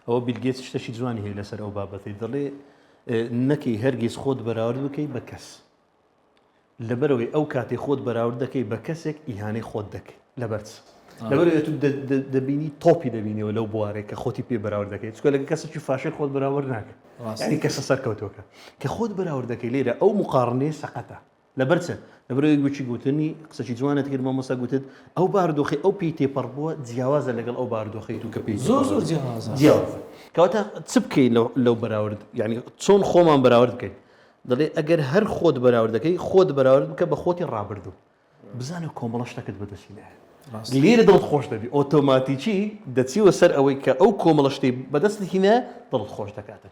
ئەوە بیل گەیتس شتەکی جوانی هەیە لەسەر ئەو بابەتەی دەڵێ نەکەی هەرگیز خۆت بەراورد بکەی بە کەس لەبەرەوەی ئەو کاتی خۆت بەراورد دەکەی بە کەسێک ئیهانەی خۆت دەکەی لەبەرچ لەبەرەوەی تو دەبینی تۆپی دەبینیەوە لەو بوارێک کە خۆتی پێ بەراورد دەکەیت چکە لەگە کەسێکی فاشێک خۆت بەراورد ناکە ینی کەسە سەرکەوتۆکە کە خۆت بەراورد دەکەی لێرە ئەو مقارنەیە سەقەتە لەبەر چ؟ لەبەر ئەوەی گوتی گوتنی قسەکی جوانت کرد مامۆستا گوتت ئەو بارودۆخەی ئەو پێی تێپەڕبووە جیاوازە لەگەڵ ئەو بارودۆخەی تو کە پێی تێپەڕبووە زۆر زۆر جیاوازە جیاوازە کەواتە چ بکەین لەو لەو بەراورد یانی چۆن خۆمان بەراورد بکەین دەڵێ ئەگەر هەر خۆت بەراورد دەکەی خۆت بەراورد بکە بە خۆتی ڕابردوو بزانە کۆمەڵە شتەکەت بەدەستی نایەت ڕاستە لێرە دڵت خۆش دەبی ئۆتۆماتیکی دەچیوە سەر ئەوەی کە ئەو کۆمەڵە شتەی بەدەستت هینایە دڵت خۆش دەکاتن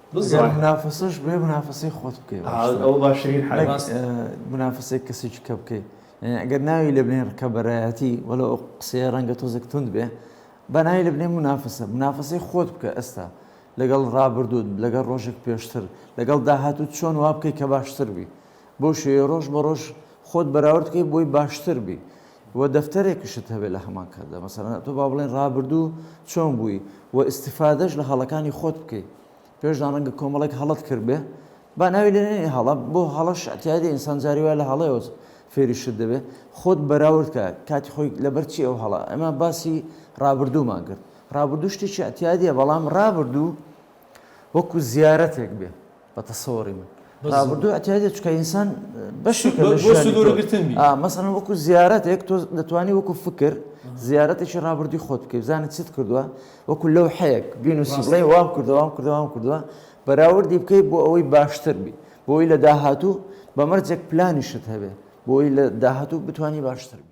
گەر منافەسەش بێ منافەسەی خۆت بکەی باشترە منافەسەی کەسی چکە بکەی ئەگەر ناوی لە بنێن ڕکەبەرایەتی وەلە ئەو قسەیە ڕەنگە تۆزێک تند بێ بەناوی لە بنێ منافەسە منافەسەی خۆت بکە ئێستا لەگەڵ ڕابردوود لەگەڵ ڕۆژێک پێشتر لەگەڵ داهاتوو چۆن وا بکەی کە باشتر بی بۆ شێ ڕۆژ بە ڕۆژ خۆت بەراوردکەی بۆی باشتر بی وە دەفتەرێکشت هەبێت لە هەمان کاتدا مەسەلەن تۆ با بڵێن ڕابردوو چۆن بووی وە ئیستیفادەش لە هەڵەکانی خۆت بکەی پێشدا ڕەنگە کۆمەڵێک هەڵەت کردبێ با ناوی لێ نەنێی هەڵە بۆ هەڵەش ئەتیادی ئینسان جاری وایە لە هەڵەیەوە فێری شت دەبێ خۆت بەراورد کە کاتی خۆی لەبەر چی ئەو هەڵە ئەمە باسی ڕابردوومان کرد ڕابردوو شتێکی ئەتیادیە بەڵام ڕابردوو وەکو زیارەتێک بێ بە تەسەوری من رابردوو ئەتیادێت چکە ئینسان بەشێکە لە ژیانگرتن مەسەن وەکو زیارەتێک تۆ دەتوانانی وەکو فکر زیارەتێکی رابردوی خۆت بکەیت زانانی چیت کردووە وەکو لەو حەیەک بین و سڵی وام کردوام کردوام کردووە بەراوردی بکەیت بۆ ئەوەی باشتر بی بۆی لە داهاتوو بەمەرجێک پلانیشت هەبێ بۆی لە داهاتوو بتانی باشتر بی